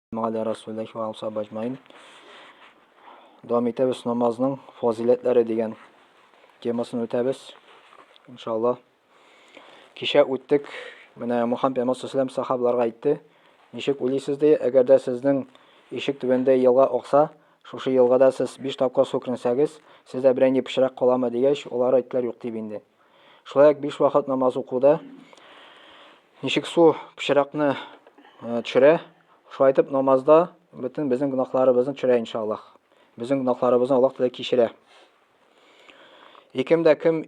Мәгәлә Расулләһи ва алса баҗмаин. Дәвам итәбез намазның фазиләтләре дигән темасын үтәбез. Иншалла. Кичә үттек. Менә Мухаммед пәйгамбәр саллаллаху сахабаларга әйтте. Ничек уйлыйсыз ди, әгәр дә сезнең ишек түбәндә елга акса, шушы елгада сез 5 тапкыр су кернсәгез, сездә берәй ни пычрак каламы дигәч, алар әйттеләр юк дип инде. Шулай ук биш вакыт намаз укуда ничек су пычракны э, төшерә, шулай итеп намазда бөтен безнең гөнаһларыбызны төшерә иншаллах. Безнең гөнаһларыбызны Аллаһ Тәгалә кичерә. Икем дә кем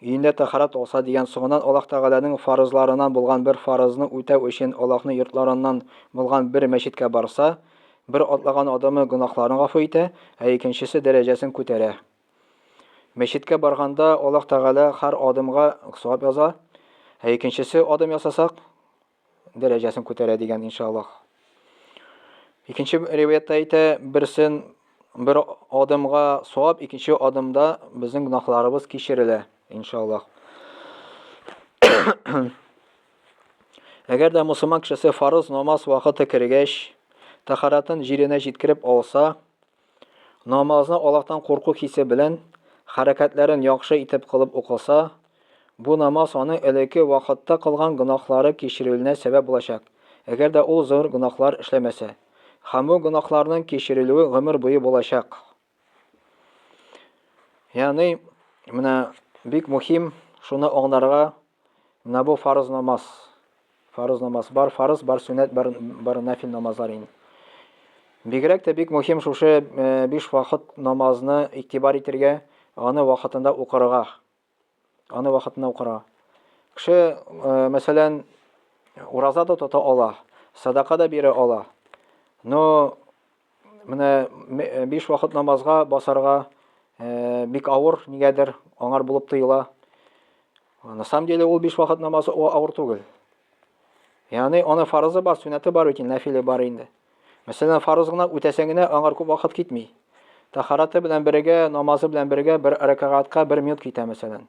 өендә тәхарат алса дигән соңыннан Аллаһ Тәгаләнең фарызларынан булган бер фарызны үтәү өчен Аллаһның йортларыннан булган бер мәчеткә барса, бер атлаган адымы гөнаһларын гафу итә, ә икенчесе дәрәҗәсен күтәрә. Мәчеткә барганда Аллаһ Тәгалә һәр адымга савап яза, ә икенчесе адым ясасак, дәрәҗәсен күтәрә дигән иншаллаһ. Икенче риваятта әйтә, берсен бер адымга савап, икенче адымда безнең гөнаһларыбыз кичерелә иншаллаһ. Әгәр дә мусульман кешесе фарыз намаз вакыты кергәч, тахаратын җиренә җиткереп алса, Намазны Аллаһтан курку хисе белән, хәрәкәтләрен яхшы итеп кылып укыса, бу намаз аның элекке вакытта кылган гөнаһлары кичерелүенә сәбәп булачак, әгәр дә ул зур гөнаһлар эшләмәсә. Һәм бу гөнаһларның кичерелүе гомер буе булачак. Ягъни, менә бик мөһим шуны аңларга Менә бу фарыз намаз. Фарыз намаз бар, фарыз бар, сөннәт бар, бар нафил намазлар инде. Бигрәк тә бик мөһим шушы э, биш вакыт намазны игътибар итергә, аны вакытында укырга. Аны вакытында укырга. Кеше, э, мәсәлән, ураза да тота ала, садака да бирә ала. Но Менә биш вакыт намазга басарга бик авыр, нигәдер, аңар булып тоела. На самом деле ул биш вакыт намазы авыр түгел. Ягъни аны фарызы бар, сүнәте бар бит, нәфиле бар инде. Мәсәлән, фарыз гына үтәсәң генә аңар күп вакыт китми. Тахараты белән бергә, намазы белән бергә бер рәкагатька бер минут китә мәсәлән.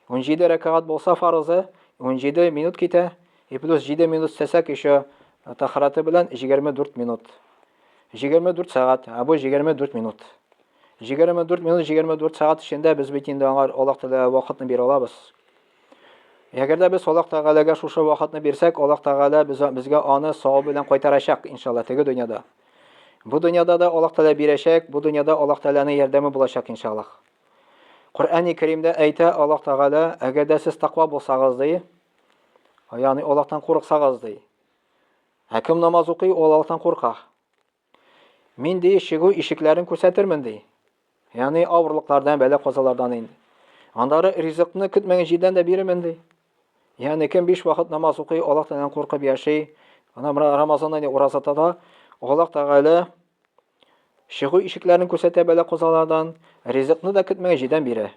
17 рәкәгать булса фарызы, 17 минут китә, и плюс 7 минут сәсәк еще тахараты белән 24 минут. 24 сәгать, ә бу 24 минут. 24 минут, 24 сәгать эчендә без бит инде аңар Аллаһ Тәгалә вакытны бирә алабыз. Әгәр дә без Аллаһ Тәгаләгә шушы вакытны бирсәк, Аллаһ Тәгалә без, безгә аны сау белән кайтарачак, иншалла, теге дөньяда. Бу дөньяда да Аллаһ Тәгалә бирәчәк, бу дөньяда Аллаһ Тәгаләнең ярдәме булачак, иншалла. Коръәни Кәримдә әйтә Аллаһ Тәгалә, әгәр дә сез таква булсагыз, ди, ягъни Аллаһтан курыксагыз, ди. Ә кем намаз укый, ул Аллаһтан курка. Мин ди чыгу ишекләрен күрсәтермен, ди. Ягъни авырлыклардан, бәла-казалардан инде. Аннары ризыкны көтмәгән җирдән дә бирермен, ди. Ягъни кем биш вакыт намаз укый, Аллаһтан куркып яши, ана Рамазанда не ураза тота, Аллаһ Тәгалә Чыгу ишекләрен күрсәтә бәла козалардан, ризыкны да көтмәгән җирдән бирә.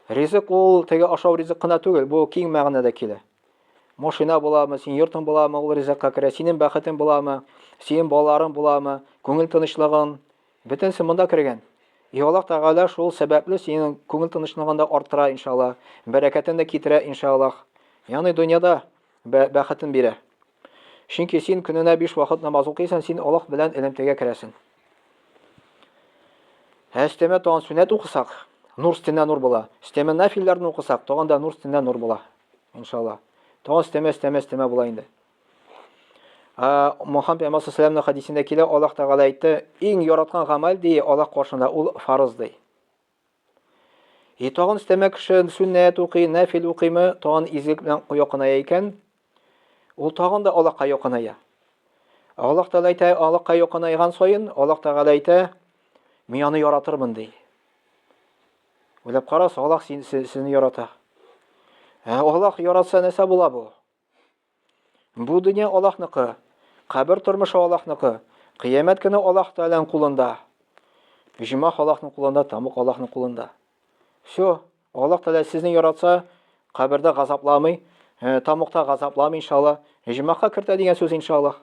Ризык ул теге ашау ризык кына түгел, бу киң мәгънәдә килә. Машина буламы, син йортың буламы, ул ризыкка керә, синең бәхетең буламы, синең балаларың буламы, күңел тынычлыгың, бөтенесе монда кергән. И Аллаһ Тәгалә шул сәбәпле синең күңел тынычлыгын да арттыра, иншаллаһ, бәрәкәтен дә китерә, иншаллаһ. Ягъни дөньяда бәхетен бирә. Чөнки син көненә биш вакыт намаз укыйсың, син Аллаһ белән элемтәгә керәсең. Ә өстәмә тагын сүнәт укысак, нур өстенә нур була. Өстәмә нафилләрне укысак, тагын да нур өстенә нур була. Иншалла. Тагын өстәмә, өстәмә, өстәмә була инде. Мухаммед пәйгамбәр саллаллаху хадисендә килә, Аллаһ Тәгалә әйтте, иң яраткан гамәл ди Аллаһ каршында ул фарыз ди. И тагын өстәмә кеше сүннәт укый, нәфил укыймы, тагын изгелек белән якыная икән, ул тагын да Аллаһка якыная. Аллаһ Тәгалә әйтә, Аллаһка якынаеган саен, Аллаһ Тәгалә әйтә, мин аны яратырмын ди. Уйлап карас, Аллаһ син, сезне ярата. Ә Аллаһ яратса нәрсә була бу? Бу дөнья Аллаһныкы, кабер тормышы Аллаһныкы, кыямәт көне Аллаһ Тәгаләнең кулында. Җомах Аллаһның кулында, тамук Аллаһның кулында. Все, Аллаһ Тәгалә сезне яратса, кабердә газапламый, э, тамукта газапламый иншаллаһ. Җомахка кертә дигән сүз иншаллаһ.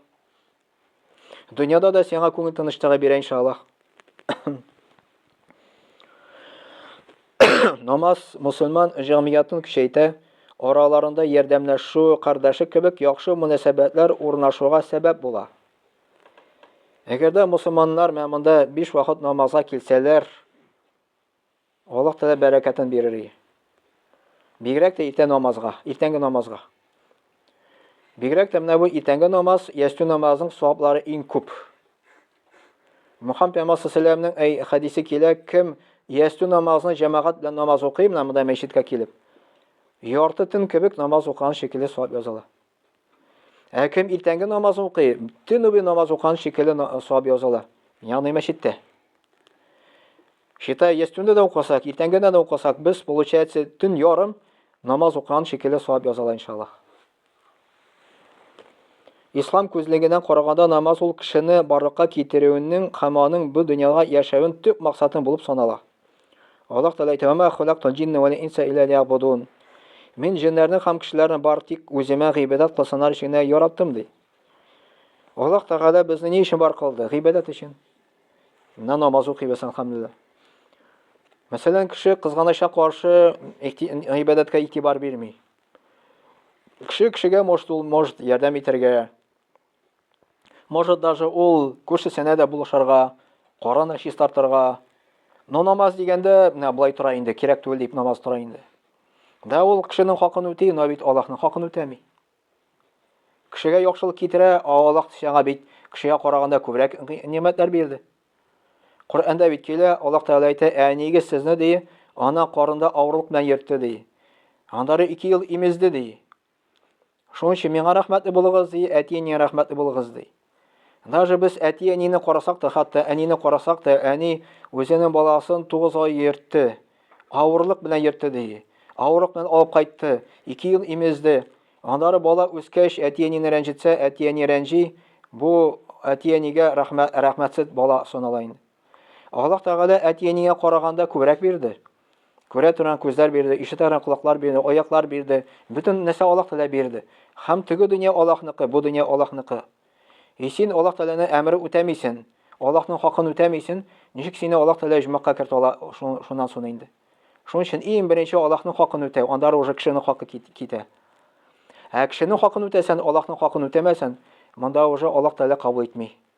Дөньяда да сиңа күңел тынычлыгы бирә иншаллах. Намаз мусульман җәмгыятен көчәйтә, араларында ярдәмләшү, кардәшлек кебек яхшы мөнәсәбәтләр урнашуга сәбәп була. Әгәр дә мусульманнар менә монда 5 вакыт намазга килсәләр, Аллаһ Тәгалә бәрәкәтен бирер ие. Бигрәк тә иртә намазга, иртәнге намазга. Бигрәк тә менә бу иртәнге намаз, ястү намазының саваплары иң күп. Мөхәммәд пәйгамбәр саллаллаһу алейһи хәдисе килә, кем ястү намазны җәмәгать белән намаз укый, менә монда мәчеткә килеп, ярты төн кебек намаз укыган шикелле савап языла. Ә кем иртәнге намаз укый, төн буе намаз укыган шикелле савап язалар. Ягъни мәчеттә. Шитай ястүндә дә укысак, иртәнге дә укысак, без получается төн ярым намаз укыган шикелле савап язалар иншаллах. Ислам күзлегеннән караганда намаз ул кешене барлыкка китерүенең һәм аның бу дөньяга яшәвен төп максатын булып санала. Аллаһ Тәгалә әйтә, "Ва халактул җинне вал инса илля лиябудун". Мин җеннәрне һәм кешеләрне бар тик үземә гыйбадәт кылсыннар өчен генә яраттым, ди. Аллаһ Тәгалә безне ни өчен бар кылды? Гыйбадәт өчен. Менә намаз укыйбыз, алхамдулилла. Мәсәлән, кеше кызганычка каршы гыйбадәткә игътибар бирми. Кеше кешегә может ул может ярдәм итәргә. Может, даже ул күршесенә дә булышарга, караны чистартырга. Но намаз дигәндә, менә болай тора инде, кирәк түгел дип намаз тора инде. Да ул кешенең хакын үти, но бит Аллаһның хакын үтәми. Кешегә яхшылык китерә, а Аллаһ сиңа бит кешегә караганда күбрәк нимәтләр бирде. Коръәндә бит килә, Аллаһ Тәгалә әйтә, әнигез сезне ди, ана карында авырлык белән йөртте ди. Аннары 2 ел имезде ди. Шуның өчен миңа рәхмәтле булыгыз, ди, әти-әнигә рәхмәтле булыгыз, ди. Даже без әти-әнине карасак та, хәтта әнине карасак та, әни үзенең баласын тугыз ай йөртте, авырлык белән йөртте, ди. Авырлык белән алып кайтты, ике ел имезде. Аннары бала үскәч, әти-әнине рәнҗетсә, әти-әни рәнҗи, бу әти-әнигә рәхмәтсез бала санала инде. Аллаһ Тәгалә әти-әнигә караганда күбрәк бирде. Күрә торган күзләр бирде, ишетә торган колаклар бирде, аяклар бирде. Бөтен нәрсә Аллаһ Тәгалә бирде. Һәм теге дөнья Аллаһныкы, бу дөнья Аллаһныкы. И син Аллаһ Тәгаләне әмере үтәмисен, Аллаһның хакын үтәмисен, ничек сине Аллаһ Тәгалә җмакка кертә ала шуннан соң инде? Шуның өчен иң беренче Аллаһның хакын үтәү, анда уже кешенең хакы китә. Ә кешенең хакын үтәсән, Аллаһның хакын үтәмәсән, монда уже Аллаһ Тәгалә кабул итми.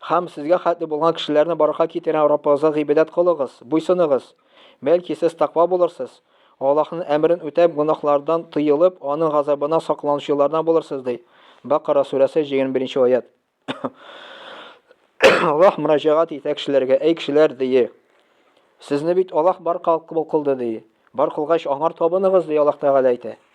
Хәм сезгә хәтле булган кешеләрне баракка китерәм, Раббыгызга гыйбадәт кылыгыз, буйсыныгыз. Бәлки сез таква булырсыз, Аллаһның әмерен үтәп, гөнаһлардан тыелып, аның газабына сакланучылардан булырсыз, ди. Бакара сүрәсе, 21 нче аят. Аллаһ мөрәҗәгать итә кешеләргә, әй кешеләр, ди. Сезне бит Аллаһ бар кылды, ди. Бар кылгач, аңар табыныгыз, ди Аллаһ Тәгалә әйтә.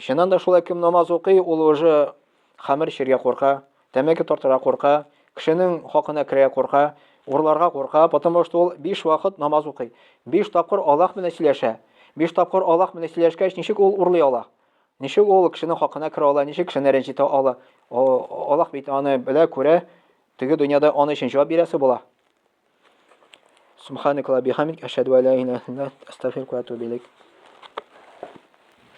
Чыннан да шулай кем намаз укый, ул уже хәмер чиргә курка, тәмәке тартырга курка, кешенең хакына керә курка, урларга курка, потому что ул биш вакыт намаз укый. Биш тапкыр Аллаһ белән сөйләшә. Биш тапкыр Аллаһ белән сөйләшкәч, ничек ул урлый ала? Ничек ул кешенең хакына керә ала, ничек кешене рәнҗетә ала? Аллаһ бит аны белә, күрә. Теге дөньяда аны өчен җавап бирәсе була. Субханакалла бихамдик, ашһаду ла иляха илля астагфирука ва атубу илейк.